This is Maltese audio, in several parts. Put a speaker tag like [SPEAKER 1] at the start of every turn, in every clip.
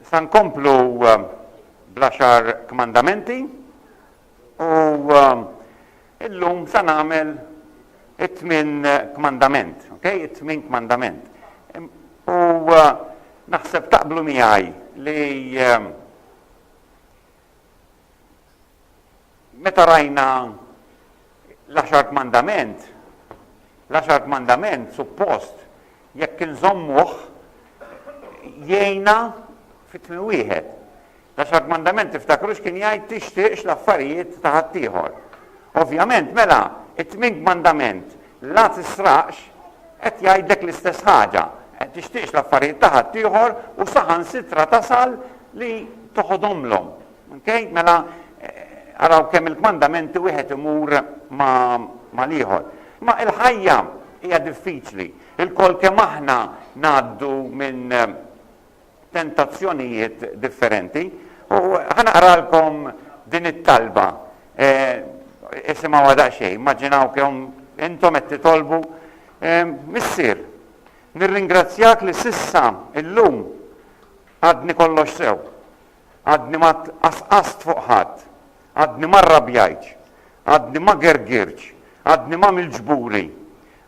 [SPEAKER 1] Sa nkomplu eh, bl-għaxar kmandamenti u eh, illum sa nagħmel it-tmin kmandament, ok? It-tmin kmandament. U eh, naħseb taqblu miegħi li Meta rajna l-Għaxar Kmandament, l-Għaxar Kmandament suppost jekk inżommuh jgħinna fi tmiem wieħed. L-Għaxar Kmandament tiftakrux kien jgħid tixtieqx l-affarijiet ta' ħaddieħor. Ovvjament mela it-tmien kmandament La tisraqx qed jgħidlek l-istess ħaġa, qed tixtieqx l-affarijiet ta' ħaddieħor u saħansitra tasal li toħodhomlhom. Okay? Mela araw kemm il-kmandamenti wieħed imur ma' l-ieħor. Ma' il-ħajja hija diffiċli. Il-kol kemm aħna ngħaddu minn tentazzjonijiet differenti. U ħa naqralkom din it-talba. Isimgħuha daqsxejn, immaġinaw kemm intom qed titolbu, Missier, nirringrazzjak li s'issa illum għadni kollox sew. Għadni ma tqasqast fuq ħadd. Għadni ma rrabjajtx. Għadni ma gergirtx. Għadni m'għamiltx buri.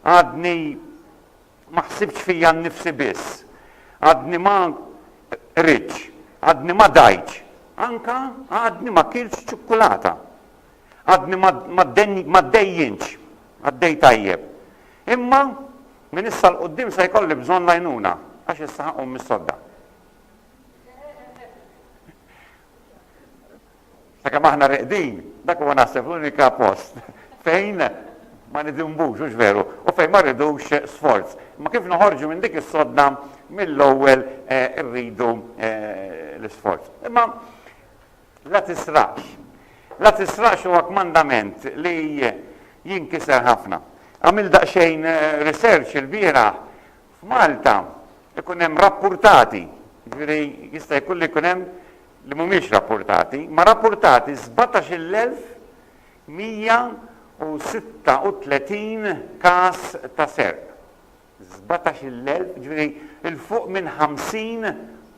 [SPEAKER 1] Għadni Ma ħsibtx fija nnifsi biss. Għadni ma qridtx. Għadni ma dajtx. Anke għadni ma kiltx ċukkulata. Għadni ma ddejjintx. Għaddej tajjeb. Imma minn issa 'l quddiem se jkolli bżonn l-għajnuna għax issa ħa qum mis-sodda. Sakemm aħna reqdin, dak huwa naħseb l-unika post fejn ma nidinbux, hux veru, u fejn ma rridux sforz. Imma kif noħorġu minn dik is-sodda mill-ewwel irridu l-isforz. Imma la tisraqx. La tisraqx huwa kmandament li jinkiser ħafna. Għamilt daqsxejn research ilbieraħ, f'Malta ikun hemm rappurtati, jiġifieri jista' jkun li jkun hemm li mhumiex rappurtati, ma rappurtati 17,136 każ ta' serq. 17,000, jiġifieri 'l fuq minn 50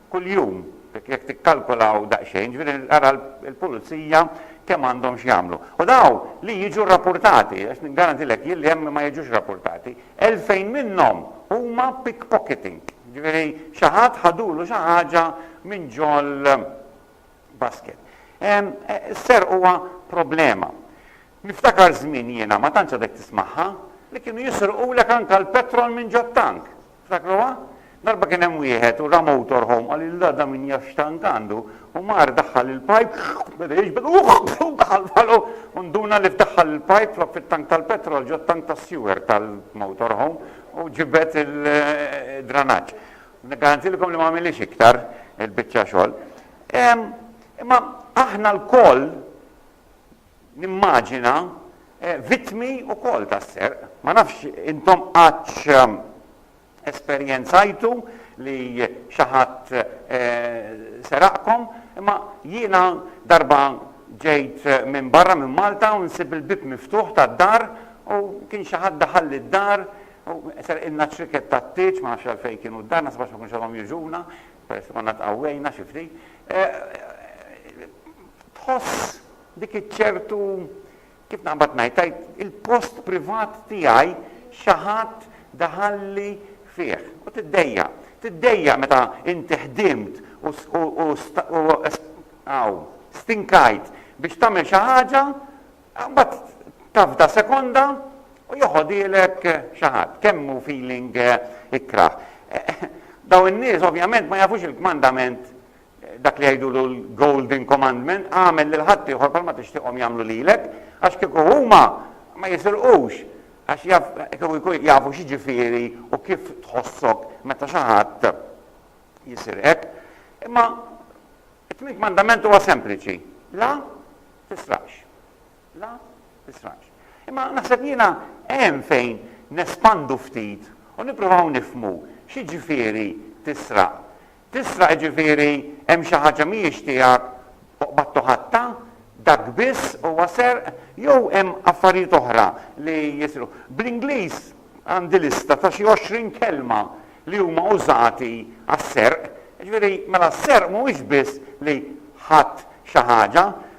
[SPEAKER 1] kuljum, jekk tikkalkolaw daqsxejn, jiġifieri ara l-Pulizija kemm għandhom x'jagħmlu. U dawn li jiġu rappurtati, għax niggarantilek jien li hemm li ma jiġux rappurtati. 2,000 minnhom huma pickpocketing, jiġifieri xi ħadd ħadulu xi ħaġa minn ġol-basket. Is-serq huwa problema. Niftakar żmien jiena, ma tantx għadek tismagħha, li kienu jisrqulek anke l-petrol minn ġot-tank. Tiftakruha? Darba kien hemm wieħed u ra motor home qal lil da da min jaf x'tant għandu u mar daħħal il-pajp beda jiġbed u u daħal f'ħalqu u nduna li f'daħħal il-pajp flok fit-tank tal-petrol ġo t-tank tas-sewer tal-motor home u ġibed il-dranaġġ. Niggarantilkom li ma għamilhiex iktar il-biċċa xogħol. Imma aħna lkoll nimmaġina vittmi wkoll tas-serq. Ma nafx intom qattx esperjenzajtu li xi ħadd seraqkom, imma jiena darba ġejt minn barra minn Malta u nsib il-bieb miftuħ tad-dar u kien xi ħadd daħalli d-dar u serqilna ċriket tat-tieġ, ma nafx għalfejn kienu d-dar, naħseb għax ma kienux għadhom jiġuna, peress li konna tqawwejna xi ftit. Tħoss dik iċ-ċertu Kif naqbad ngħid, tgħid il-post privat tiegħi xi ħadd daħalli fih. U tiddejjaq. Tiddejjaq meta inti ħdimt u hawn stinkajt biex tagħmel xi ħaġa, mbagħad tafda sekonda u joħodhielek xi ħadd. Kemm hu feeling ikkrah. Dawn in-nies ovvjament ma jafux il-kmandament dak li jgħidulu l-Golden Commandment, agħmel lil ħaddieħor bħalma tixtieqhom jagħmlu lilek, għax kieku huma ma jisirqux, għax jaf, kieku jkun jafu x'jiġifieri u kif tħossok meta xi ħadd jisirqek. Imma it-tmien kmandament huwa sempliċi, la tisraqx. La tisraqx. Imma naħseb jiena hemm fejn nespandu ftit u nippruvaw nifmu x'jiġifieri tisraq. Tisraq jiġifieri hemm xi ħaġa mhijiex tiegħek u qbadtu ħadtha? Dak biss huwa serq jew hemm affarijiet oħra li jisrqu? Bl-Ingliż għandi lista ta' xi għoxrin kelma li huma użati għas-serq. Jiġifieri mela s-serq mhuwiex biss li ħadt xi ħaġa.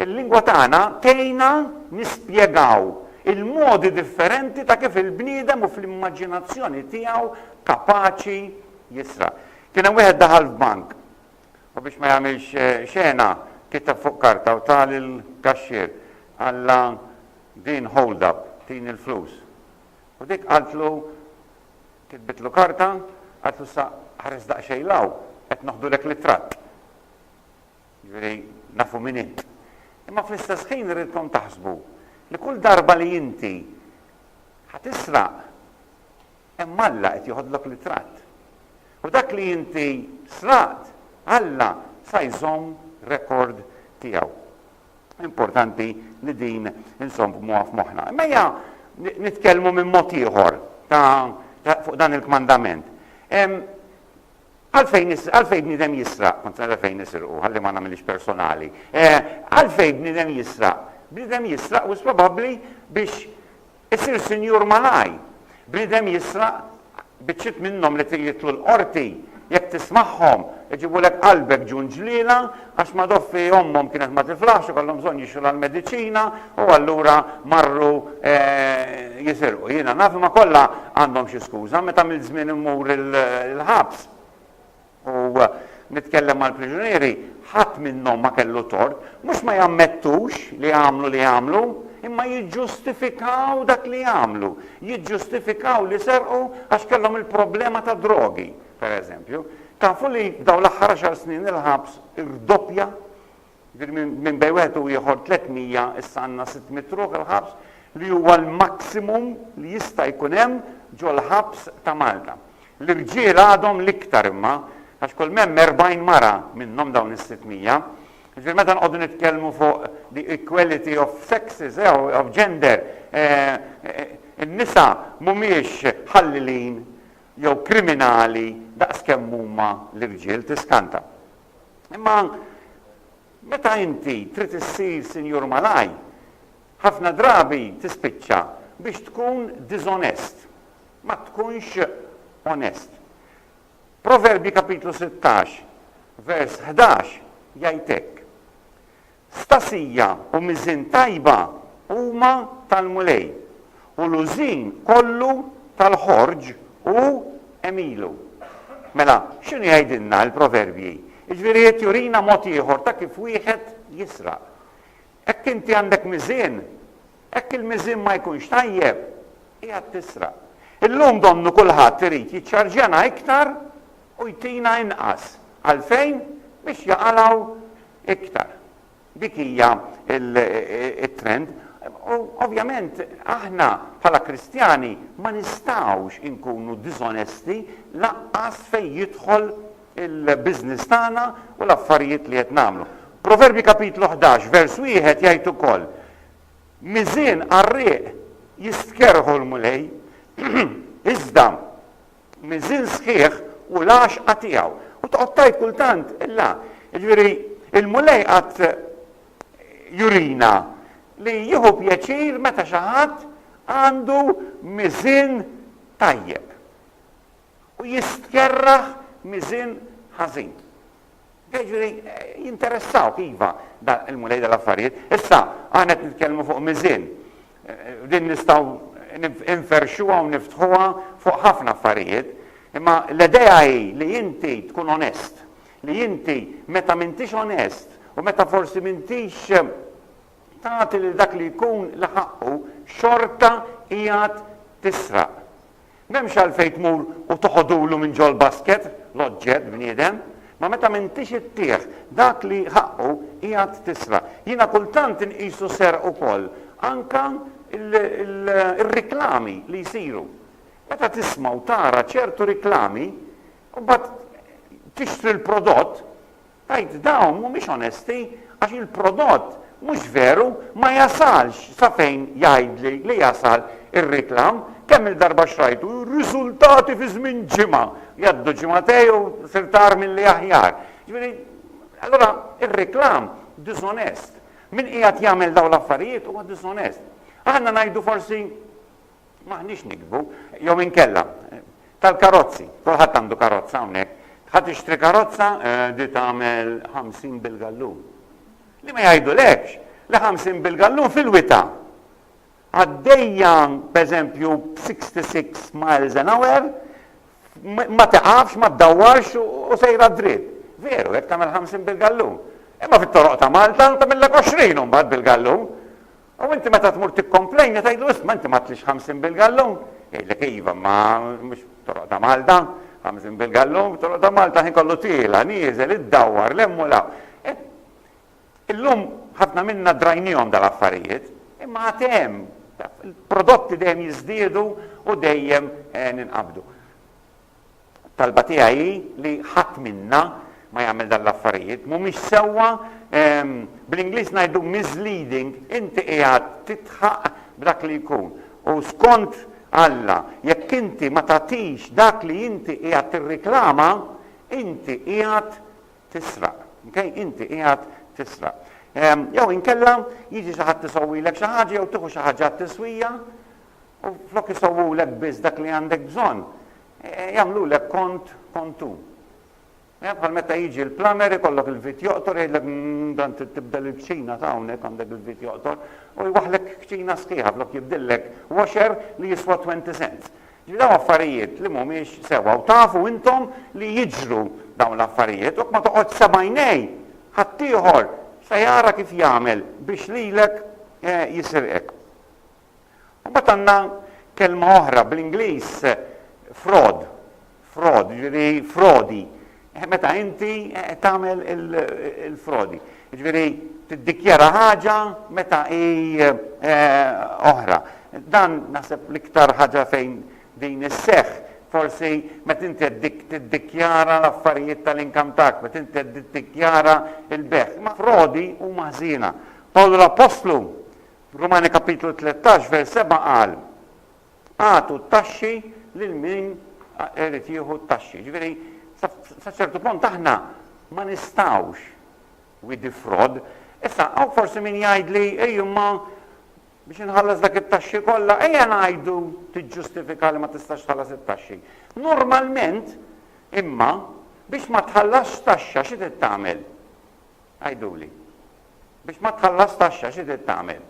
[SPEAKER 1] Il-lingwa tagħna tgħinna nispjegaw il-modi differenti ta' kif il-bniedem u fl-immaġinazzjoni tiegħu kapaċi jisraq. Kien hemm wieħed daħal f'bank u biex ma jagħmilx xena kiteb fuq karta u ta lill-kaxxier qalla din hold up, tini l-flus. U dik qaltlu kitbitlu karta, qaltlu issa ħares daqsxejn 'l hawn, qed noħdulek l-ittratt. Jiġifieri, nafu min int. Imma fl-istess ħin irridkom taħsbu li kull darba li inti ħa tisraq, hemm Alla qed joħodlok ritratt. U dak li inti sraqt, Alla sa jżomm rekord tiegħu. Importanti li din insommuha f'moħħna. Imma ejja nitkellmu minn mod ieħor ta' fuq dan il-kmandament. Għalfejn is, għalfejn bniedem jisraq? Kont nara fejn nisirqu, ħalli ma nagħmilhiex personali. Eh, għalfejn bniedem jisraq? Bniedem jisraq wis probabbli biex isir sinjur malaj. Bniedem jisraq biċċiet minnhom li jitlu l-qorti jekk tismagħhom, iġibulek qalbek ġun ġliela Għax Madoffi ommhom kienet ma tiflaħx u kellhom bżonn jixtru l-mediċina u allura marru jisirqu. Jiena naf imma kollha għandhom xi skuża. Meta għamilt żmien immur il-ħabs u nitkellem mal-priġunieri, ħadd minnhom ma kellu tort. Mhux ma jammettux li għamlu li għamlu, imma jiġġustifikaw dak li għamlu. Jiġġustifikaw li serqu għax kellhom il-problema tad-drogi. per eżempju, tafu li f'dawn l-aħħar għaxar snin il-ħabs irdoppja, jiġifieri minn bejn wieħed u ieħor 300 issa għandna 600 ruħ il-ħabs li huwa l-maximum li jista' jkun hemm ġol-ħabs ta' Malta. L-irġiel għadhom l-iktar imma għax kull m'hemm 40 mara minnhom dawn is-600. Jiġifieri meta nqogħdu nitkellmu fuq the equality of sexes, eh, of gender, eh, eh, in-nisa mhumiex ħallilin jew kriminali daqs kemm huma l-irġiel tiskanta. Imma meta inti trid issir sinjur malaj, ħafna drabi tispiċċa biex tkun diżonest, ma tkunx onest. Proverbji kapitlu 16 vers 11 jgħid hekk, Stasija u miżien tajba huma tal-Mulej, u l-użin kollu tal-ħorġ hu għemilu. Mela, x'inhu jgħidilna l-Proverbji? Jiġifieri qed jurina mod ieħor ta' kif wieħed jisraq. Hekk inti għandek miżien, hekk il-miżien ma jkunx tajjeb, qiegħed tisraq. Illum donnu kulħadd irid jiċċarġjana iktar u jtina inqas. Għalfejn? Biex jaqalgħu iktar. Dik hija t-trend. U ovvjament aħna bħala Kristjani ma nistgħux inkunu diżonesti lanqas fejn jidħol il-business tagħna u l-affarijiet li qed nagħmlu. Proverbji kapitlu 11 vers wieħed jgħid ukoll, Miżien qarrieq jistkerrħu l-Mulej, iżda miżiel sħiħ u l-għaxqa tiegħu. U toqgħod tgħid kultant, la, jiġifieri l-Mulej qagħad jurina li jieħu pjaċir meta xi ħadd għandu miżien tajjeb u jistkerraħ miżien ħażin. Jiġifieri jinteressawk iva dan il-Mulej dal-affarijiet. Issa aħna qed nitkellmu fuq miżien. Din nistgħu nferrxuha u niftħuha fuq ħafna affarijiet. Imma l-idea hi li inti tkun onest, li inti meta m'intix onest u meta forsi m'intix tagħti lil dak li jkun la ħaqqu xorta qiegħed tisraq. M'hemmx għalfejn tmur u toħodulu minn ġol-basket l-oġġett, bniedem, ma meta m'intix ittih dak li ħaqqu qiegħed tisraq. Jiena kultant inqisu serq ukoll anke r-riklami li jsiru. Meta tisma' u tara ċertu riklami u mbagħad tixtri l-prodott, Tgħid dawn mhumiex onesti għax il-prodott mhux veru ma jasalx sa fejn jgħidli li jasal ir-reklam, kemm il-darba xtrajtu, riżultati fi żmien ġimgħa, jgħaddu ġimgħatej u sirt agħar milli aħjar. Ġifieri, allura ir-reklam diżonest. Min qiegħed jagħmel dawn l-affarijiet huwa diżonest. Aħna ngħidu forsi M'aħniex nikdbu. Jew inkella, tal-karozzi. Kulħadd għandu karozza hawnhekk. Ħa tixtri karozza li tagħmel 50 bil-gallun. Li ma jgħidulekx li 50 bil-gallun fil-wita' għaddejja pereżempju b'66 miles an hour ma tiqafx, ma ddawwarx u sejra dritt. Veru, jekk tagħmel 50 bil-gallun. Imma fit-toroq ta' Malta tagħmillek 20 imbagħad bil-gallun. U inti meta tmur tikkomplejna tgħidlu isma' inti m'għadtlix 50 bil-gallun, jgħidlek iva imma mhux toroq ta' Malta, 50 bil-gallun, toroq ta' Malta ħin kollu tiela, nieżel, iddawwar, lemm u law. E, illum ħafna minna drajnihom dal-affarijiet, imma għad hemm il-prodotti dejjem jiżdiedu u dejjem e, ninqabdu. Talba tiegħi hi li ħadd minna ma jagħmel dan l-affarijiet. Mhumiex sewwa, bl-Ingliż ngħidu misleading, inti qiegħed tidħaq b'dak li jkun. U skont Alla, jekk inti ma tagħtix dak li inti qiegħed tirriklama, inti qiegħed tisraq. Okay? Inti qiegħed tisraq. Jew inkella jiġi xi ħadd isowwilek xi ħaġa jew tieħu xi ħaġa t-tiswija U flok isewwulek biss dak li għandek bżonn, jagħmlulek kont kontu. Jaf bħal meta jiġi l-plumber ikollok il-vit joqtor jgħidlek dan trid tibdel il-kċina ta' hawnhekk għandek il-vit joqtor u jwaħħlek kċina sħiħa flok jibdillek washer li jiswa 20 cents. Ġifieri dawn affarijiet li mhumiex sewwa u tafu intom li jiġru dawn l-affarijiet u ma toqgħodx sabajnej ħaddieħor se jara kif jagħmel biex lilek jisirqek. Mbagħad għandna kelma oħra bl-Ingliż fraud, fraud, jiġifieri frodi. Meta inti tagħmel il-frodi. Jiġifieri tiddikjara ħaġa meta hi oħra. Dan naħseb l-iktar ħaġa fejn din isseħħ forsi meta inti tiddikjara l-affarijiet tal-inkam tak, meta inti tiddikjara l-beħ. Ma frodi huma ħżiena. Pawl l-Appostlu Rumani kapitlu tlettax vers seba' qal, Agħtu t-taxxi lil min irid jieħu t-taxxi. Ġifieri, sa ċertu punt aħna ma nistgħux we defraud. Issa hawn forsi min jgħidli, ej imma biex inħallas dak it-taxxi kollha, ejja ngħidu tiġġustifika li ma tistax tħallas it-taxxi. Normalment, imma, biex ma tħallasx taxxa xi trid tagħmel? Għiduli. Biex ma tħallas taxxa xi trid tagħmel?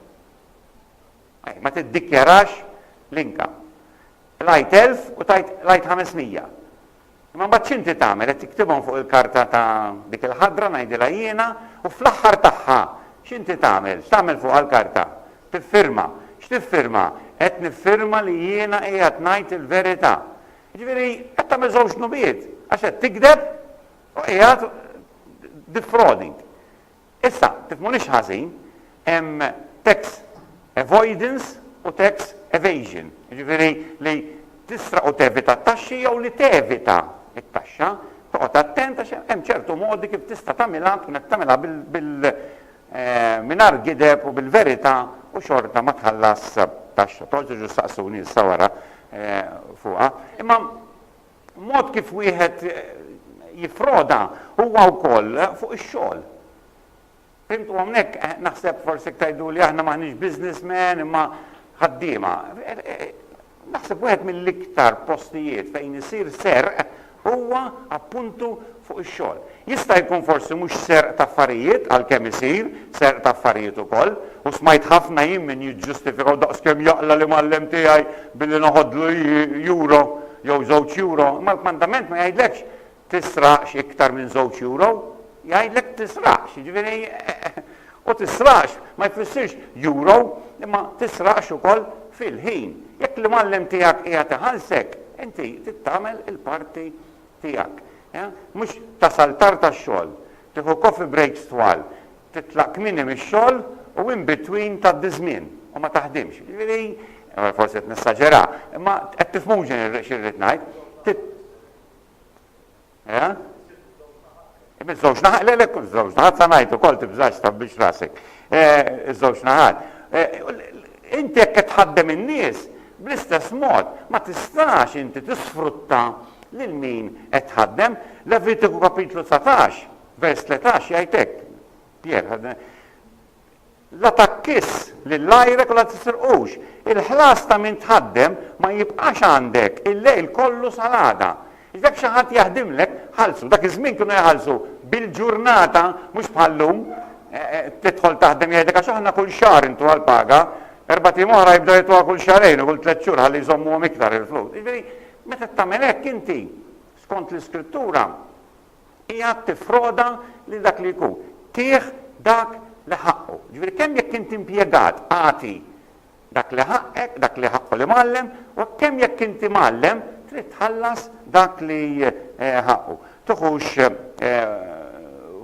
[SPEAKER 1] Ej, ma tiddikjarax l-income. Qlajt 1000 u tajt qlajt 500. Imma mbagħad x'inti tagħmel? Qed tiktibhom fuq il-karta ta' dik il-ħadra ngħidilha jiena u fl-aħħar tagħha x'inti tagħmel? X'tagħmel fuqha l-karta? Tiffirma. X'tiffirma? Qed niffirma li jiena qiegħed ngħid il-verità. Jiġifieri qed tagħmel żewġ dnubiet għax qed tikdeb U qiegħed defrauding. Issa, tifhmunix ħażin, hemm tax avoidance u tax evasion. Jiġifieri li tisraq u tevita t-taxxi jew li tevita t-taxxa, toqgħod attent għax hemm ċertu modi kif tista' tagħmilha tkun qed tagħmilha bil eh, mingħajr gideb u bil-verità u xorta ma tħallas taxxa. Toġġu saqsuni issa wara eh, fuqha. Imma Mod kif wieħed jiffroda huwa wkoll fuq ix-xogħol. Fimtu hawnhekk? Naħseb forsi jekk tgħiduli aħna m'aħniex businessmen imma ħaddiema. Naħseb wieħed mill-iktar postijiet fejn isir serq huwa appuntu fuq ix-xogħol. Jista' jkun forsi mhux serq ta' affarijiet, għalkemm isir serq ta' affarijiet ukoll, u smajt ħafna jien min jiġġustifika u daqskemm jaqla' l-imgħallem tiegħi billi noħodlu euro jew żewġ euro, imma l-kmandament ma jgħidlekx tisraqx iktar minn żewġ euro, jgħidlek tisraqx, jiġifieri u tisraqx ma jfissirx euro imma tisraqx ukoll fil-ħin. Jekk l-imgħallem tiegħek qiegħed iħallsek, inti trid tagħmel il-parti tiegħek. Mhux tasal tard għax-xogħol, tieħu coffee breaks twal, titlaq kmieni mix-xogħol u in between tgħaddi ż-żmien u ma taħdimx. Jiġifieri, forsi qed nesaġera, imma qed tifhmux xi rrid ngħid. Iż-żewġ naħat, le le, kull żewġ naħat sa ngħid ukoll tibżax tħabbix rasek. Iż-żewġ naħat. Inti jekk qed tħaddem in-nies, bl-istess mod ma tistax inti tisfrutta lil min qed tħaddem. Levitiku kapitlu 19, vers 13 jgħid hekk. Pier, La takkis lill-għajrek u la tisirqux. Il-ħlas ta' min tħaddem ma jibqax għandek il-lejl kollu sal-għada. Jekk xi ħadd jaħdimlek, ħallsu. Dak iż-żmien kienu jħallsu bil-ġurnata mhux bħal-lum. Tidħol taħdem jgħidlek għax aħna kull xahar intuha l-paga, erbat ijiem oħra jibdew jtuha kull xahrejn u kull tliet xhur ħalli jżommuhom iktar il-flus. Jiġifieri, meta tagħmel hekk inti, skont l-Iskrittura, qiegħed tiffroda lil dak li jkun, tih dak li ħaqqu. Jiġifieri kemm jekk int impjegat agħti dak li ħaqqek, dak li ħaqqu l-imgħallem, u hekk kemm jekk int imgħallem trid tħallas dak li ħaqqu. Tuħux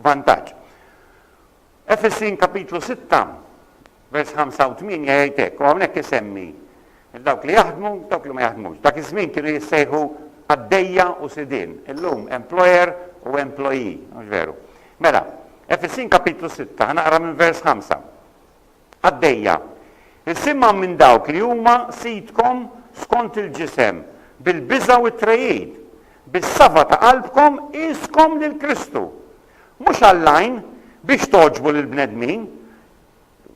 [SPEAKER 1] vantaġġ. Efesin kapitlu sitta, vers ħamsa u tmienja jgħid hekk, u hawnhekk isemmi lil dawk li jaħdmu, dawk li ma jaħdmux. Dak iż-żmien kienu jissejħu qaddejja u sidien, illum employer u employee, mhux veru? Mela, Efesin kapitlu sitta, ħa naqra minn vers ħamsa. Qaddejja, isimgħu minn dawk li huma sidkom skont il-ġisem, bil-biża' u t-trejid, bis-sava ta' qalbkom qiskom lil Kristu, Mhux għall-għajn, biex togħġbu lill-bnedmin.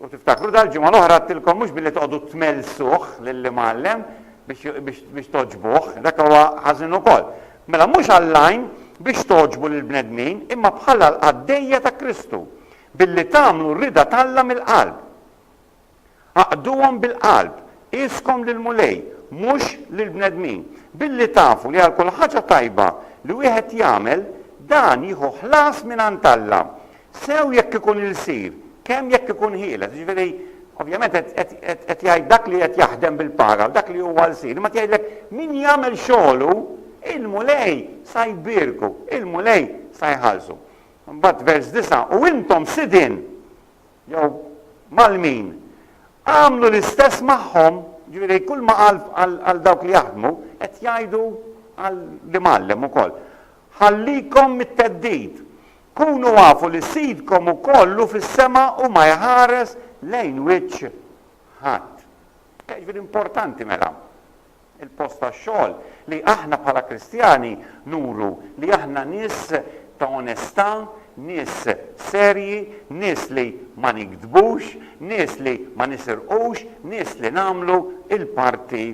[SPEAKER 1] U tiftakru dal-ġimgħa l-oħra għedtilkom mhux billi toqgħodu tmellsuh lill-imgħallem biex togħġbuh, dak huwa ħażin ukoll. Mela mhux għall-għajn biex togħġbu lill-bnedmin, imma bħala l-qaddejja ta' Kristu, billi tagħmlu r-rieda t'Alla mill-qalb. Aqduhom bil-qalb, qieskom lill-Mulej, mhux lill-bnedmin, billi tafu li għal kull ħaġa tajba li wieħed jagħmel, dan jieħu ħlas mingħand Alla, sew jekk ikun ilsir, kemm jekk ikun ħieles. Jiġifieri, ovvjament qed jgħid dak li qed jaħdem bil-paga u dak li huwa lsir, imma qed jgħidlek min jagħmel xogħlu, il-Mulej sa jbierku, il-Mulej sa jħallsu. Imbagħad vers disa', U intom sidien! jew mal-min, għamlu l-istess magħhom, jiġifieri kull ma qal għal dawk li jaħdmu, qed jgħidu għal l-imgħallem ukoll. Ħallikom mit-theddid. Kunu għafu li Sidkom ukoll hu fis-sema u ma jħares lejn wiċċ ħadd. Jiġifieri importanti mela il-post tax-xogħol, li aħna bħala Kristjani nuru li aħna nies ta' onestà, nies serji, nies li ma nigdbux, nies li ma nisirqux, nies li nagħmlu l-parti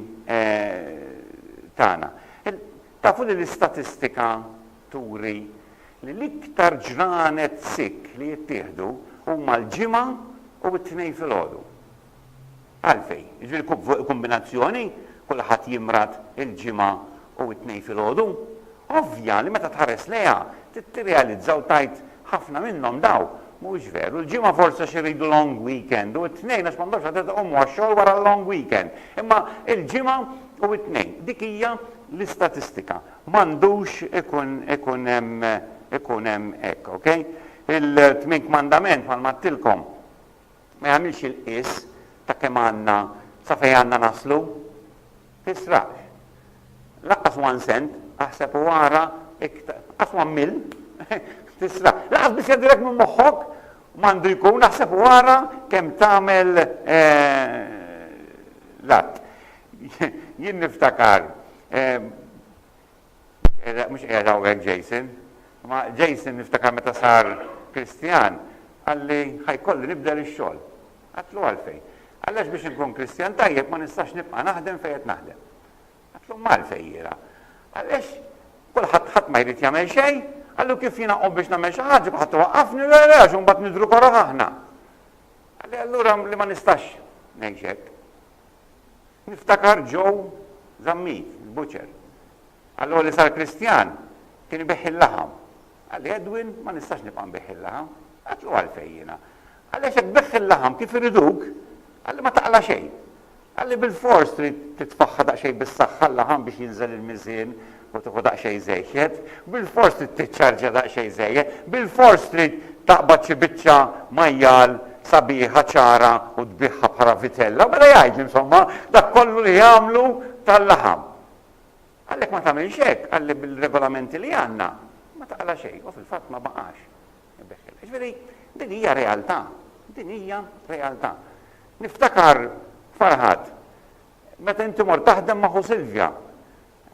[SPEAKER 1] tagħna. Tafu li l-istatistika turi li l-iktar ġranet sick li jittieħdu huma l-Ġimgħa u t-Tnejn filgħodu? Għalfejn? Jiġifieri kub fuq il-kumbinazzjoni, kulħadd jimrad il-Ġimgħa u t-Tnejn filgħodu? Ovvja li meta tħares lejha, trid tirrealizza u tgħid ħafna minnhom daw, mhuwiex veru, il-Ġimgħa forsi għax iridu long weekend u t-Tnejn għax m'għandhomx għadet iqumu għax-xogħol wara l-long weekend. Imma il-Ġimgħa u t-Tnejn, dik hija l-istatistika. M'għandux ikun ikun hemm ikun hemm hekk, ok? Il-Tmien Kmandament bħalma għedtilkom. Ma jagħmilx il-qies ta' kemm għandna sa fejn għandna naslu. Tisraqx. Lanqas one cent, aħseb u ara iktar. Lanqas one mil, tisraq. Lanqas biss jgħaddilek minn moħħok m'għandu jkun aħseb u ara kemm tagħmel eh, l-att. Jien niftakar eh, Mhux qiegħed hawnhekk Jason, imma Jason niftakar meta sar Kristjan qalli ħa jkolli nibdel ix-xogħol. Għedtlu għalfejn? Għaliex biex inkun Kristjan tajjeb ma nistax nibqa' naħdem fejn qed naħdem. Għedtlu m'għalfejn jiena. Għaliex kulħadd ħadd ma jrid jagħmel xejn, għallu kif jiena qom biex nagħmel xi ħaġa kulħadd iwaqqafni le le għax imbagħad nidhru koroh aħna. Għalli allura li ma nistax ngħix hekk. Niftakar Joe Zammit, il-butcher. Allura li sar Kristjan, kien ibigħ il-laħam. Qal li, Edwin, ma nistax nibqa' nbigħ il-laħam. Għedtlu għalfejn jiena? Qal li għax jekk tbigħ il-laħam kif iriduk, qal li ma taqla' xejn. Qal li bilfors trid titfaħħa daqsxejn bis-saħħa l-laħam biex jinżel il-miżien u tieħu daqsxejn żejjed, bilfors trid tiċċarġja daqsxejn żejjed, bilfors trid taqbad xi biċċa majjal sabiħa ċara u tbiegħha bħala vitella, mela jgħid li insomma dak kollu li jagħmlu tal-laħam. Għalhekk ma tagħmilx hekk, għalli bil-regolamenti li għandna ma taqla xejn u fil-fatt ma baqax. Ġifieri din hija realtà, din hija realtà. Niftakar farħad, meta inti mor taħdem ma' Silvja,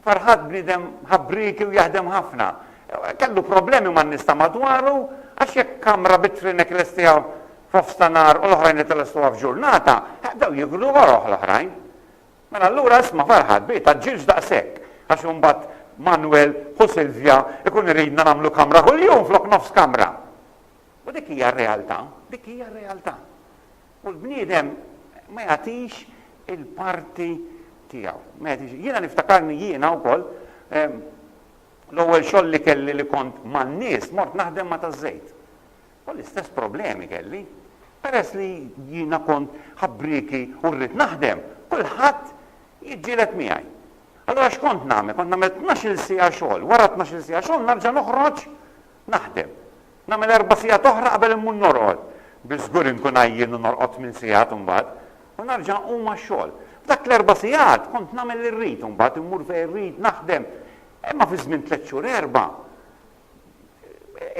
[SPEAKER 1] Farhad bniedem ħabrieki u jaħdem ħafna. Kellu problemi man-nies ta' madwaru għax jekk kamra bit-trinek lestiha f'nofs ta' nhar u l-oħrajn qed ilestuha f'ġurnata, bdew jigru oroħ l-oħrajn. Mela allura isma' Farhad, b'hi tgħaġġilx daqshekk għax imbagħad Manwel, ħu Silvja, ikun iridna nagħmlu kamra kuljum flok nofs kamra. U dik hija r-realtà, dik hija r-realtà. U l-bniedem ma jagħtix il-parti tiegħu. Ma jagħtix. Jiena niftakarni jiena wkoll l-ewwel xogħol li kelli li kont man-nies mort naħdem ma' taż-żejt. U l-istess problemi kelli. Peress li jiena kont ħabbrieki u rrid naħdem, kulħadd jiġġieled miegħi. Allura x'kont nagħmel? Kont nagħmel tnax-il siegħa xogħol. Wara tnax-il siegħa xogħol narġa' noħroġ Naħdem. Nagħmel erba' sigħat oħra qabel immur norqod. Bi żgur inkun għajjien u norqod tmien sigħat imbagħad. U nerġa' nqum għax-xogħol. F'dak l-erba' sigħat kont nagħmel li rrid u mbagħad immur fejn irrid naħdem. Imma fi żmien tliet xhur erbgħa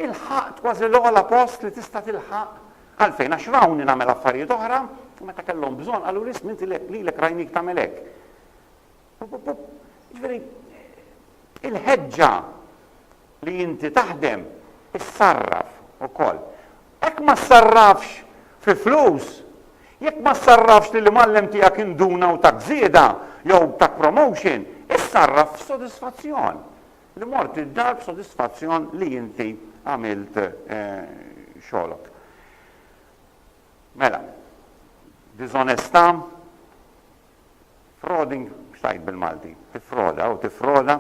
[SPEAKER 1] ilħaqt kważi l-ogħla post li tista' tilħaq. Għalfejn? Għax rawni nagħmel affarijiet oħra u meta kellhom bżonn qaluli Smith lilek rajnik tagħmel hekk. Jiġifieri, il-ħeġġa li inti taħdem issarraf ukoll. Hekk ma ssarrafx fi flus, jekk ma ssarrafx li l-imgħallem tiegħek induna u tak żieda jew tak promotion, issarraf f'sodisfazzjon. Li mort id-dar b'sodisfazzjon li inti għamilt eh, xogħlok. Mela, diżonestà, Frauding, mhux tgħid bil-Malti, tiffroda u tiffroda.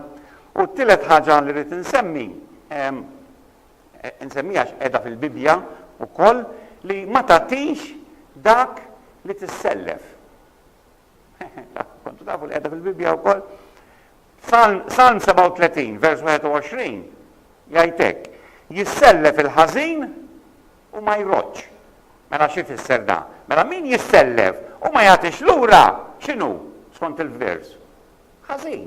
[SPEAKER 1] U t-tielet ħaġa li rrid insemmi, insemmiha għax qiegħda fil-Bibbja wkoll, li ma tagħtix dak li tissellef. Kontu tafu li qiegħda fil-Bibbja wkoll? Salm 37, vers 21, jgħid hekk, jissellef il-ħażin U ma jroddx. Mela xi jfisser dan? Mela min jissellef u ma jagħtix lura, x'inhu, skont il-vers? Ħażin.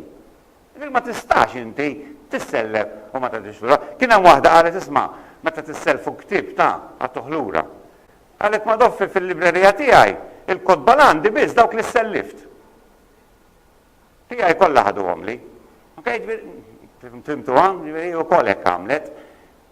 [SPEAKER 1] Jiġifieri ma tistax inti tissellef u ma tagħtix lura. Kien hemm waħda qalet isma', meta tissellfu ktieb ta' agħtuh lura. Qalet ma doffi fil-librerija tiegħi, il-kotba l-għandi biss dawk li ssellift. Tiegħi kollha ħaduhomli. Okej, ġifieri fimtuha, ġifieri wkoll hekk għamlet.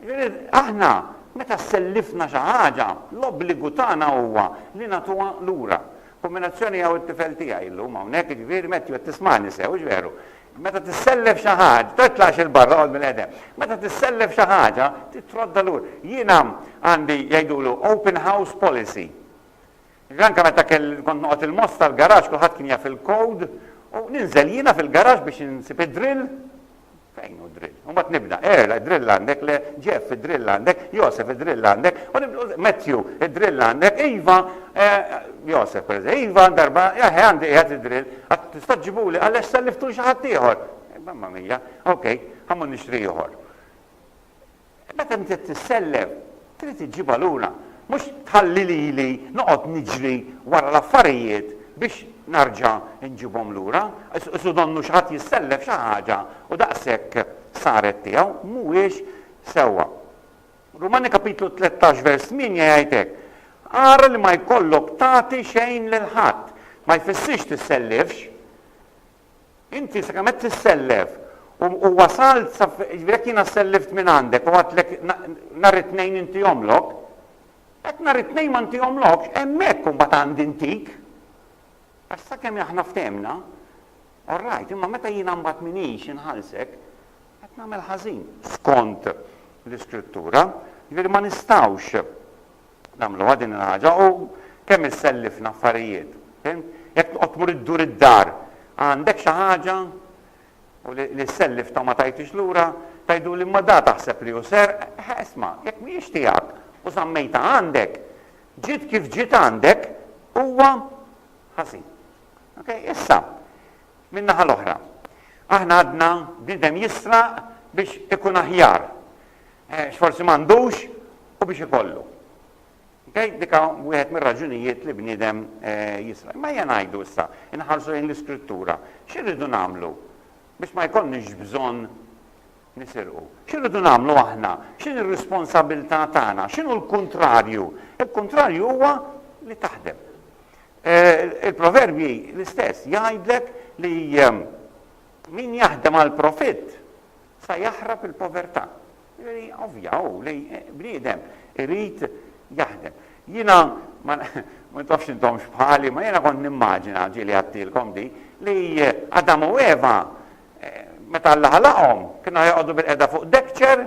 [SPEAKER 1] Ġifieri aħna meta sellifna xi ħaġa, l-obbligu tagħna huwa li nagħtuha lura. Kombinazzjoni hawn it-tifel tiegħi llum hawnhekk, ġifieri Matthew qed tismagħni sew, hux veru? Meta tissellef xi ħaġa, titlgħax il barra qod mill-qedem. Meta tissellef xi ħaġa, titrodda lura. Jiena għandi jgħidulu open house policy. Jiġifieri anke meta kont noqgħod il-Moss tal-garaxx kulħadd kien jaf il-code u ninżel jiena fil-garaxx biex insib id-drill, fejn hu d-drill? U mbagħad nibda, Earl, id-drill għandek? Le, Jeff, id-drill għandek? Joseph, id-drill għandek? U nibda, Matthew, id-drill għandek? Iva, Joseph pereżempju, Iva, darba, eħe għandi qiegħed id-drill, għad tista' ġġibuli għaliex selliftu xi ħadd ieħor. Mamma mija, ok, ħammur nixtri ieħor. Meta inti tissellem, trid iġġibha lura, mhux tħalli lili noqgħod niġri wara l-affarijiet biex narġa' nġibhom lura. Su donnu xi ħadd jissellef xi ħaġa u daqshekk saret tiegħu, mhuwiex sewwa. Rumani kapitlu tlettax vers tmienja jgħid hekk, Ara li ma jkollok tagħti xejn lil ħadd. Ma jfissirx tissellifx. Inti sakemm qed tissellef u u wasalt sa f', jiġifieri jekk jiena sellift minn għandek u għedtlek na nhar it-Tnejn intihomlok, jekk nhar it-Tnejn ma ntihomlokx, hemmhekk imbagħad għandi ntik. Għax sakemm aħna ftehmna, all right, imma meta jiena mbagħad m'iniex inħallsek, qed nagħmel ħażin skont l-Iskrittura. Jiġifieri ma nistgħux nagħmluha din il-ħaġa u kemm issellifna affarijiet. Fimt? Jekk toqgħod tmur iddur id-dar, għandek xi ħaġa u li ssellifta u ma tajtix lura, tgħiduli imma da taħseb li hu serq, eħe isma', jekk mhijiex tiegħek u żammejtha għandek, ġiet kif ġiet għandek, huwa ħażin. Okay? Issa, min-naħa l-oħra, aħna għadna bniedem jisraq biex ikun aħjar. x'forsi m'għandux u biex ikollu. Okay? Dik hawn wieħed mir-raġunijiet li bniedem jisraq. Imma ejja ngħidu issa, inħarsu lejn l-Iskrittura. X'irridu nagħmlu biex ma jkollniex bżonn nisirqu? X'irridu nagħmlu aħna? X'inhi r-responsabbiltà tagħna? X'inhu l-kuntrarju? Il-kuntrarju huwa li taħdem. Il-proverbji l-istess jgħidlek li Min jaħdem għall-profitt sa jaħrab il-povertà. Jiġifieri ovvja hu li bniedem irid jaħdem. Jiena ma nafx intom x'bħali, ma jiena kont nimmaġina ġieli għadtilkom di li Adam u Eva meta Alla ħalaqhom kienu joqogħdu bil-qeda fuq dekċer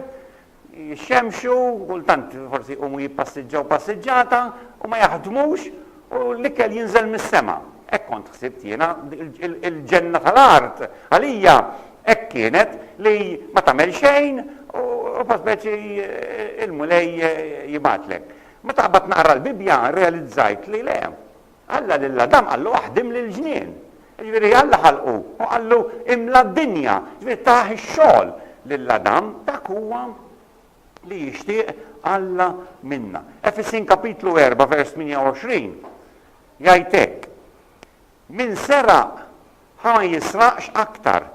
[SPEAKER 1] jixxemxu, kultant forsi jqumu jippassiġġaw passiġġata u ma jaħdmux u l-ikel jinżel mis-sema. Hekk kont ħsibt jiena, il-ġenna tal-art għalija hekk kienet li ma tagħmel xejn u fa speċi il-Mulej jibgħatlek. Meta qabad naqra l-Bibbja rrealizzajt li le, Alla lil Adam qallu aħdimli l-ġnien. Jiġifieri Alla ħalqu u qallu imla d-dinja. Jiġifieri tah ix-xogħol lil Adam, dak huwa li jixtieq Alla minna. Efesin kapitlu 4 vers 28 jgħid hekk, Min seraq Ħa ma jisraqx aktar,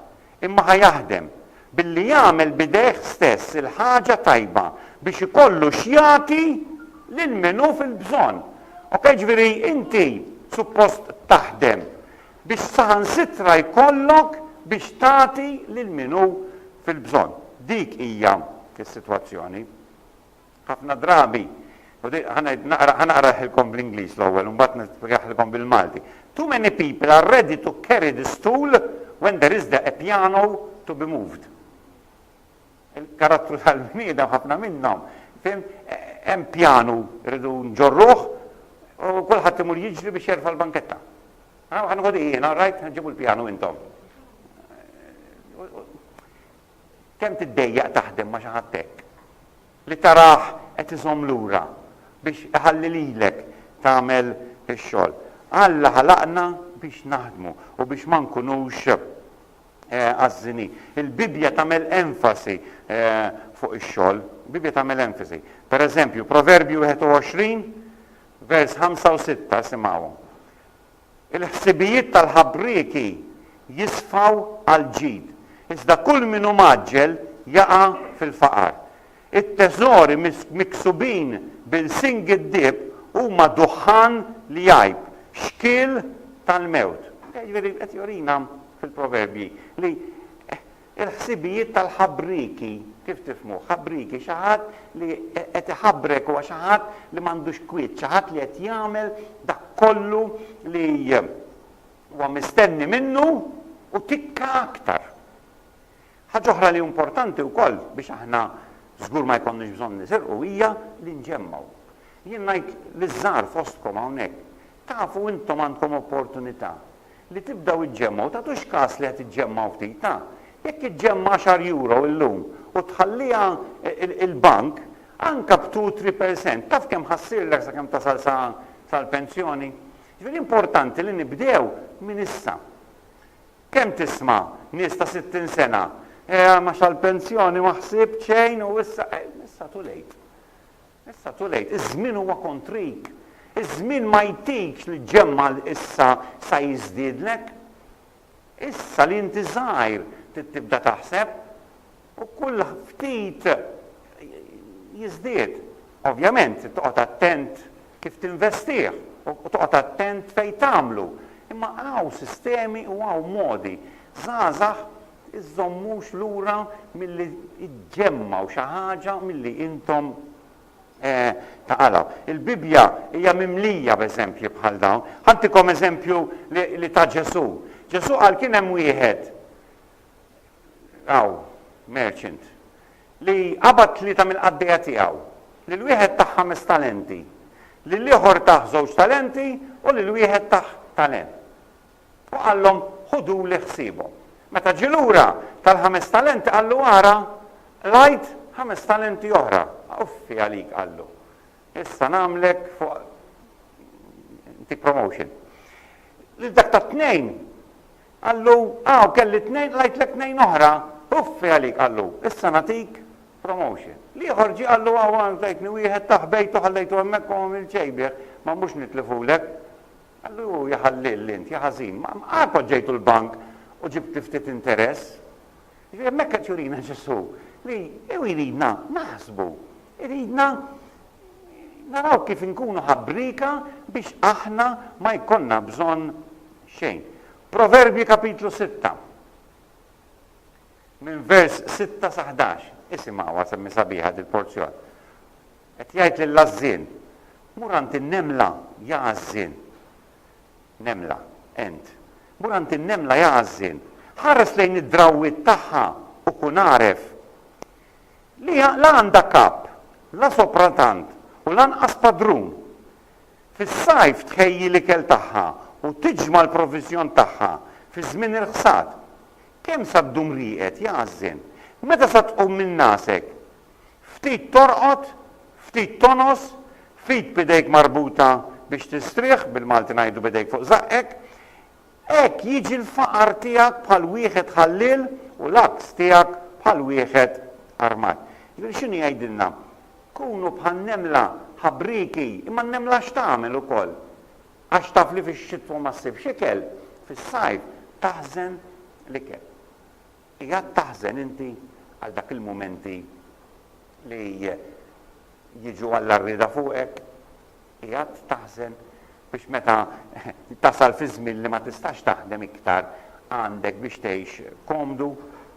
[SPEAKER 1] imma ħa jaħdem, billi jagħmel b'idejh stess il-ħaġa tajba, biex ikollu x'jagħti lil min hu fil-bżonn. Okej, ġifieri inti suppost taħdem biex saħansitra jkollok biex tagħti lil min hu fil-bżonn. Dik hija s-sitwazzjoni. Ħafna drabi, u di, ħa ngħid, naqra, ħa naqraħilkom bl-Ingliż l-ewwel u mbagħad nispjegaħilkom bil-Malti. Too many people are ready to carry the stool when there is the a piano to be moved. Il-karattru tal-bniedem ħafna minnhom, fim, hemm pjanu rridu nġorruh u kulħadd imur jiġri biex jerfa' l-banketta. Ħa nħodhi jiena, rajt, ġibu l-pjanu intom. Kemm tiddejjaq taħdem ma' xi ħadd hekk, li tarah qed iżomm lura biex iħalli lilek tagħmel ix-xogħol. Alla ħalaqna biex naħdmu u biex ma nkunux għażżini. Il-Bibbja tagħmel enfasi fuq ix-xogħol. Il-Bibbja tagħmel enfasi. Per eżempju, Proverbji 21, vers 5 u 6, isimgħuhom. Il-ħsibijiet tal-ħabrieki jisfaw għall-ġid, iżda kull min hu mgħaġġel jaqa' fil-faqar. It-teżori miksubin b'ilsien giddieb huma duħħan li jgħib, xkiel tal-mewt. Jiġifieri qed jurina fil-proverbji li Il-ħsibijiet tal-ħabrieki, kif tifhmuh? Ħabrieki, xi ħadd li qed iħabbrek huwa xi ħadd li m'għandux kwiet, xi ħadd li qed jagħmel dak kollu li huwa mistenni minnu u tikka aktar. Ħaġa oħra li importanti wkoll biex aħna żgur ma jkollniex bżonn nisirqu hija li nġemmgħu. Jien ngħid liż-żgħar fostkom hawnhekk, Tafu intom għandkom opportunità li tibdew iġġemmgħu, tagħtux kas li qed iġġemmgħu ftit, ta', jekk iġġemma' għaxar euro illum u tħalliha il-bank, anke b' two, three percent, taf kemm ħa ssirlek sakemm tasal sa sal-pensjoni? Ġifieri importanti li nibdew minn issa. Kemm tisma' nies ta' sittin sena, eh, ma sal-pensjoni ma ħsibt xejn u issa, eh, issa too late. Issa too late, iż-żmien huwa kontrik. Iż-żmien ma jtikx li ġġemma' issa sa jiżdiedlek. Issa li inti żgħir trid tibda taħseb u kull ftit jiżdied. Ovvjament trid toqgħod attent kif tinvestih u toqgħod attent fejn tagħmlu. Imma hawn sistemi u hawn modi. Żgħażagħ iżżommux lura milli ġġemmgħu xi ħaġa milli intom taqalgħu. Il-Bibbja hija mimlija b'eżempji bħal dawn. Ħantikom eżempju li ta Ġesù. Ġesù qal kien hemm wieħed hawn, merchant, li qabad tlieta mill-qaddejja tiegħu, lil wieħed tah ħames talenti, lil ieħor tah żewġ talenti u lil wieħed tah talent. U qallhom, Ħuduli ħsiebhom. Meta ġie lura tal-ħames talenti qallu, Ara, qlajt ħames talenti oħra. Uffi għalik, qallu. Issa nagħmlek fuq ntik promotion. Lil dak tat-tnejn qallu, Aw, kelli tnejn, qlajtlek tnejn oħra. Uffi għalik, qallu. Issa nagħtik promotion. L-ieħor ġie qallu, Aw, għan tajtni wieħed, tah bejtu ħallejtu hemmhekk u ma għamilt xejn bih. Ma mhux nitlifulek. Qallu, Ja ħalliel int, ja ħażin, ma qatt poġġejtu l-bank u ġibt ftit interess? Jiġifieri hemmhekk qed jurina Ġesù li hu jridna naħsbu, iridna naraw kif inkunu ħabrieka biex aħna ma jkollna bżonn xejn. Proverbji kapitlu sitta, minn vers sitta sa ħdax, isimgħuha semmi sabiħa dil-porzjon. Qed jgħid lill-għażżien, Mur għand in-nemla, ja għażżien. Nemla, Ent. Mur għand in-nemla, ja għażżien. Ħares lejn id-drawwiet tagħha u kun għaref li la għandha kap, la sopra tant u lanqas padrun. Fis-sajf tħejji l-ikel tagħha u tiġma' l-proviżjon tagħha fi żmien il-ħsad. Kemm sa ddum rieqed, ja għażżien? Meta sa tqum minn ngħasek, Ftit torqod, ftit tonos, ftit b'idejk marbuta biex tistrieħ, bil-Malti ngħidu b'idejk fuq żaqqek, hekk jiġi l-faqar tiegħek bħal wieħed ħalliel u l-għaks tiegħek bħal wieħed armat. Jiġifieri x'inhu jgħidilna? Kunu bħan-nemla, ħabrieki, imma n-nemla x'tagħmel ukoll? Għax taf li fix-xitwa ma ssibx ikel, fis-sajf taħżen l-ikel. Qiegħed taħżen inti għal dak il-mumenti li jiġu għall-għarrieda fuqek? Qiegħed taħżen biex meta tasal fiż-żmien li ma tistax taħdem iktar għandek biex tgħix komdu?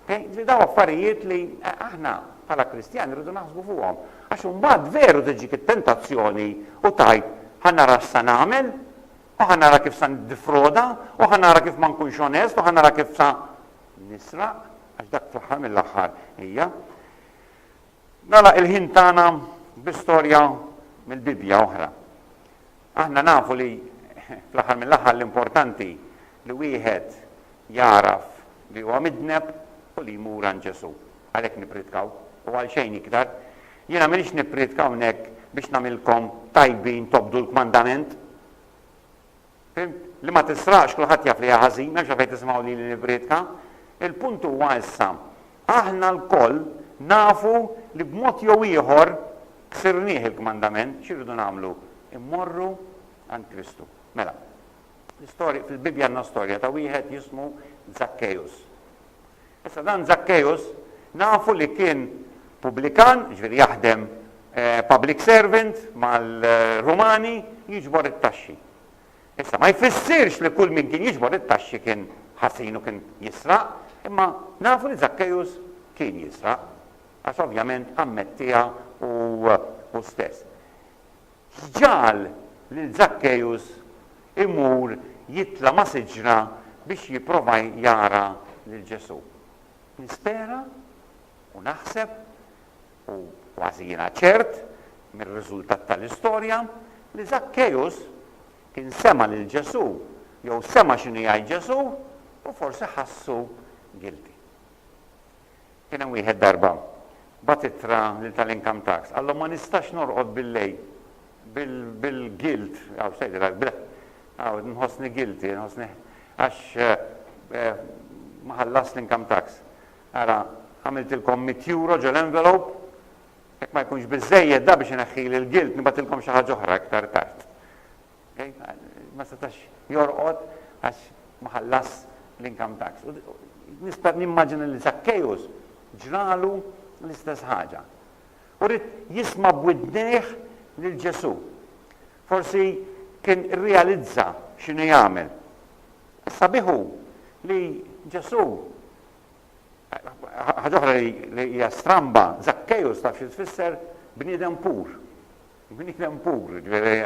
[SPEAKER 1] Ġifieri dawn affarijiet li aħna bħala Kristjani rridu naħsbu fuqhom. Għax imbagħad veru tiġik it-tentazzjoni u tgħid ħa nara x'sa nagħmel, u ħa nara kif sa niddifroda, u ħa nara kif ma nkunx onest, u ħa nara kif sa nisraq, għax dak fl-aħħar mill-aħħar hija. Nagħlaq il-ħin tagħna bi storja mill-Bibbja oħra. Aħna nafu li fl-aħħar mill-aħħar l-importanti li wieħed jaraf li huwa midneb u li jmur għand Ġesu. Għalhekk nipritkaw u għal xejn iktar Jiena m'iniex nipprietka hawnhekk biex nagħmilkom tajbin tobdu l-kmandament. Fhimt? Li ma tisraqx kulħadd jaf li hija ħażin, m'hemmx għalfejn tisimgħu lili nipprietka. Il-punt huwa issa, aħna lkoll nafu li b'mod jew ieħor ksirnieh il-kmandament, x'irridu nagħmlu? Immorru għand Kristu. Mela, l-istorja, fil-Bibbja għandna storja ta' wieħed jismu Zakkejus. Issa dan Żakkejus nafu li kien pubblikan, jiġifieri jaħdem public servant mal-Rumani, jiġbor it-taxxi. Issa ma jfissirx li kull min kien jiġbor it-taxxi kien ħażin u kien jisraq, imma nafu li Żakkejus kien jisraq, għax ovvjament ammettiha hu stess. X'ġagħal lil Żakkejus imur jitla' ma' siġra biex jipprova jara lil Ġesù? Nispera u naħseb, u kważi jiena ċert mir-riżultat tal-istorja, li Żakkejus kien sema' lil Ġesù jew sema' x'inhu jgħid Ġesù u forsi ħassu guilty. Kien hemm wieħed darba bagħat ittra lil tal-income tax, qalhom ma nistax norqod billejl bil-guilt, aw x'tgħid il-art, bil, aw nħossni guilty, nħossni għax ma ħallastx l-income tax. Ara, għamiltilkom mitt euro ġol-envelope, jekk ma jkunx biżżejjed da biex ineħħili l-guilt nibgħatilkom xi ħaġa oħra iktar tard. Ma setax jorqod għax ma ħallasx l-income tax. U nista' nimmaġina li Żakkejus ġralu l-istess ħaġa. U ried jisma' b'widnejh lil Ġesù. Forsi kien irrealizza x'inhu jagħmel. Sabiħ hu li Ġesù ħaġa oħra li hija stramba, Żakkejus taf xi tfisser bniedem pur. Bniedem pur, jiġifieri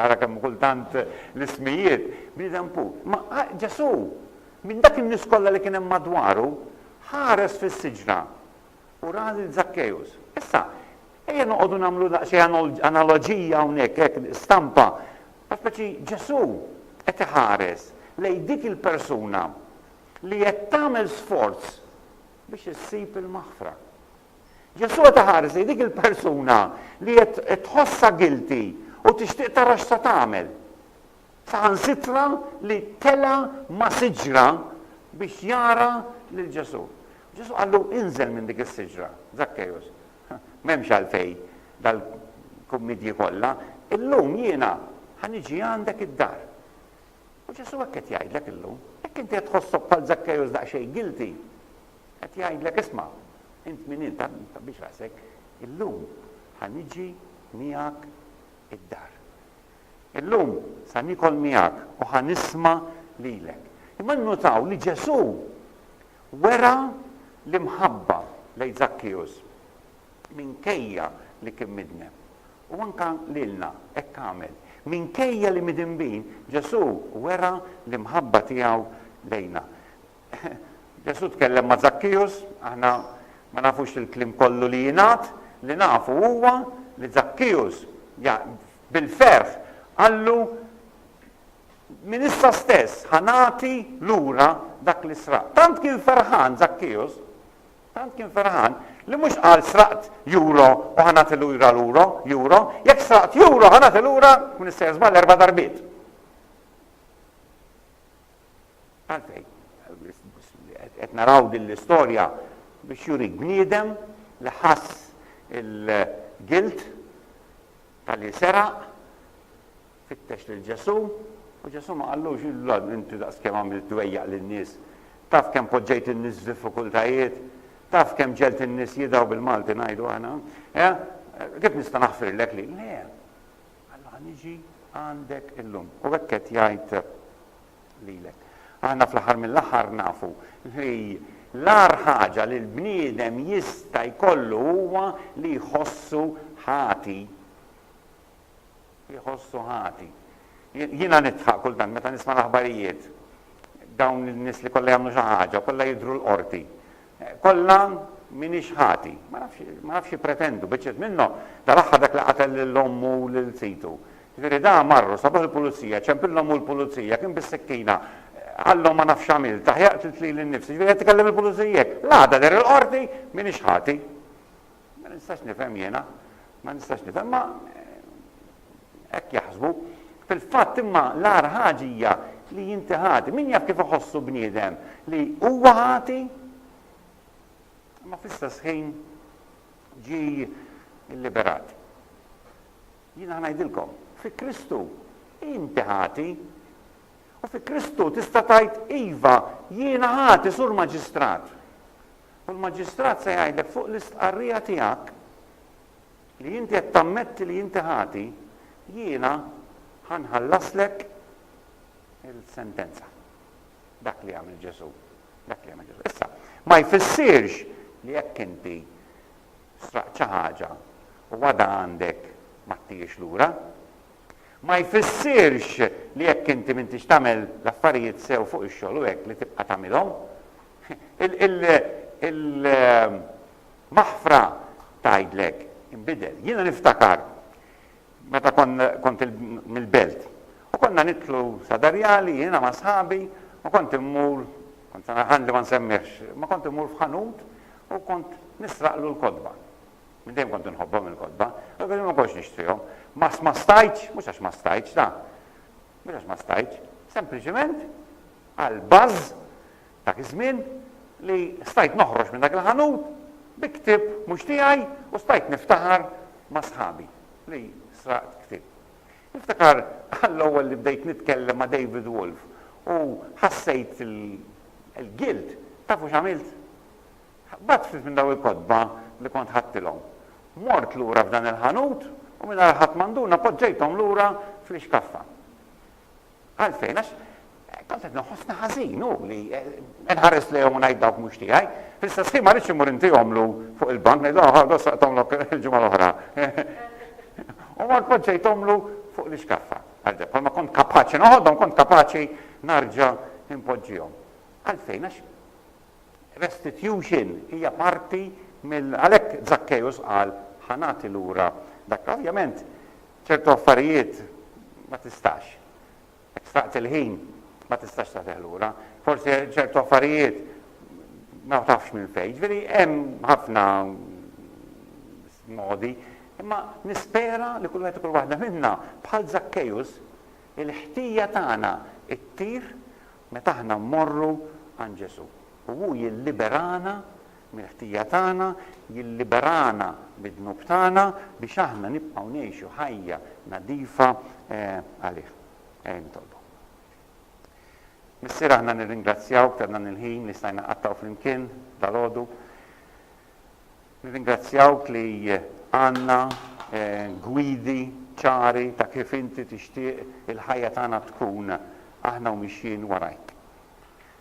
[SPEAKER 1] ara kemm kultant l-ismijiet, bniedem pur. Imma Ġesù, minn dak in-nies kollha li kien hemm madwaru, ħares fis-siġra u ra lil Żakkejus. Issa, ejja noqogħdu nagħmlu daqsxejn analoġija hawnhekk, hekk, stampa, għax pereżempju Ġesù qed iħares lejn dik il-persuna li qed tagħmel sforz biex issib il-maħfra. Ġesù qed iħarsi dik il-persuna li qed tħossha guilty u tixtieq tara x'se tagħmel. Saħansitra li tela' ma' siġra biex jara lil Ġesù. Ġesù qallu inżel minn dik is-siġra, Zakkejus. M'hemmx għalfejn dal-kummidji kollha, illum jiena ħa niġi għandek id-dar. U Ġesù hekk qed jgħidlek illum, jekk inti qed tħossok bħal Zakkejus daqsxejn guilty, Qed jgħidlek, Isma', int min int, tant ma tħabbix rasek, illum ħa niġi miegħek id-dar. Illum sa niekol miegħek u ħa nisma' lilek. Imma nnutaw li Ġesù wera l-imħabba lejn Żakkeus minkejja li kien midneb. U anke lilna hekk għamel. Minkejja li midinbin, Ġesù wera l-imħabba tiegħu lejna. Ġesù tkellem ma' Żakkijus, aħna ma nafux il-kliem kollu li jingħad, li nafu huwa li Żakkijus bil-ferħ qallu, Minn issa stess ħa nagħti lura dak li sraqt. Tant kien ferħan Żakkijus, tant kien ferħan li mhux qal sraqt juro u ħa nagħti lura luro, juro, jekk sraqt juro ħa nagħti lura kun issa żball erba' darbiet. Għalfejn? Qed naraw din l-istorja biex jurik bniedem li ħass il-gilt talli seraq, fittex lil Ġesù, u Ġesù ma qallux, Illa, inti daqskemm għamilt dwejjaq lin-nies, taf kemm poġġejt in-nies f'diffikultajiet, taf kemm ġegħlt in-nies jidgħu bil-Malti ngħidu aħna, eh? Kif nista' naħfirlek li? Le. Allura ħa niġi għandek illum u hekk qed jgħid lilek. Aħna fl-aħħar mill-aħħar nafu li l-agħar ħaġa li l-bniedem jista' jkollu huwa li jħossu ħati. Li jħossu ħati. Jiena nidħaq kultant meta nisma' l-aħbarijiet dawn in-nies li kollha jagħmlu xi ħaġa, kollha jidhru l-qorti. Kollha m'iniex ħati. Ma nafx, ma nafx jippretendu, biċċiet minnhom, dal-aħħar dak li qatel lil ommu u lil situ. Ġifieri da marru, sabuh il-pulizija, ċempillhom hu l-pulizija, kien bis-sikkina, qalhom ma nafx għamilt, aħjar qtilt lili nnifsi, ġifieri qed tkellem il-pulizija hekk. L-għada der il-Qorti, m'iniex ħati. Ma nistax nifhem jiena, ma nistax nifhem ma hekk jaħsbu. Fil-fatt imma l-agħar ħaġa hija li inti ħati. Min jaf kif iħossu bniedem li huwa ħati? Imma fl-istess ħin ġi liberat. Jiena ngħidilkom, fi Kristu inti ħati. U fi Kristu tista' tgħid iva jiena ħati sur maġistrat. u l-Maġistrat se jgħidlek fuq l-istqarrija tiegħek li inti qed tammetti li inti ħati, jiena ħa nħallaslek il-sentenza. Dak li għamel Ġesù. Dak li għamel Ġesù. Issa, ma jfissirx li jekk inti sraqt xi ħaġa u għada għandek ma tijiex lura, ma jfissirx li jekk inti m'intix tagħmel l-affarijiet sew fuq ix-xogħol u hekk li tibqa' tagħmilhom, Il-maħfra tgħidlek, inbidel. Jiena niftakar meta kont mill-belt u konna nidħlu Sadarjali jiena ma' sħabi u kont immur, kont se ngħid li ma nsemmihx, ma kont immur f'ħanut u kont nisraqlu l-kotba. Minn dejjem kont inħobbhom il-kotba, u kelli ma kontx nixtrihom. Ma ma stajtx, mhux għax ma stajtx, da. Mhux għax ma stajtx, sempliċiment għal baż Dak iż-żmien li stajt noħroġ minn dak il-ħanut bi ktieb mhux tiegħi u stajt niftaħar ma' sħabi li sraqt ktieb. Niftakar għall-ewwel li bdejt nitkellem ma' David Wolf u ħassejt il-guilt. Tafu x'għamilt? Ħbatt ftit minn dawn il-kotba li kont ħadtilhom. Mort lura f'dan il-ħanut u mingħajr ħadd ma nduna poġġejthom lura fl-ixkaffa. Għalfejn? Għax tant qed noħossni ħażin u li nħares lejhom u ngħid dawk mhux tiegħi. Fl-istess ħin ma rridx immur intihomlu fuq il-bank ngħid oh ħa saqtomlok il-ġimgħa l-oħra. U mort poġġejthomlu fuq l-iskaffa. Għalda, bħalma kont kapaċi noħodhom, kont kapaċi narġa' impoġġihom. Għalfejn għax restitution hija parti mill għalhekk Zakkejus qal ħanati lura dak. Ovvjament Ċertu affarijiet ma tistax. Jekk sraqt il-ħin, ma tistax tagħtih lura. Forsi ċertu affarijiet ma tafx minn fejn. Ġifieri hemm ħafna modi, imma nispera li kull wieħed kull waħda minna bħal Zakkejus il-ħtija tagħna ttir meta aħna mmorru għand Ġesù. U hu jilliberana mill-ħtija tagħna, jilliberana mid-dnub tagħna biex aħna nibqgħu ngħixu ħajja nadifa għalih. Ejja nitolbu. Missier aħna nirringrazzjawk ta' dan il-ħin li stajna qattgħu flimkien dal-għodu. Nirringrazzjawk li għandna eh, gwidi ċari ta' kif inti tixtieq il-ħajja tagħna tkun aħna u mixjin warajk.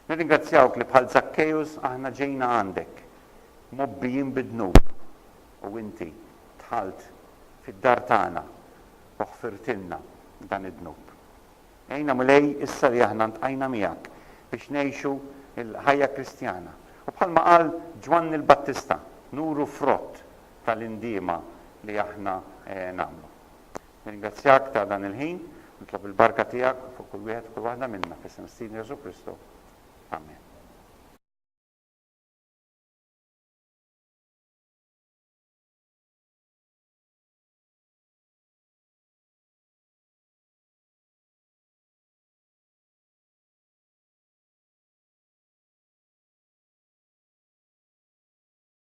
[SPEAKER 1] Nirringrazzjawk li bħal Żakkejus aħna ġejna għandek, mgħobbijin bid-dnub, u inti dħalt fid-dar tagħna u ħfirtilna dan id-dnub. Għinna, Mulej, issa li aħna ntqajna miegħek biex ngħixu l-ħajja Kristjana u bħalma qal Ġwanni l-Battista, nuru frott tal-indiema li aħna nagħmlu. Nirringrazzjak ta' dan il-ħin. Nitlob il-barka tiegħek fuq kull wieħed u kull waħda minna, f'isem Sidna Ġesù Kristu. Amen.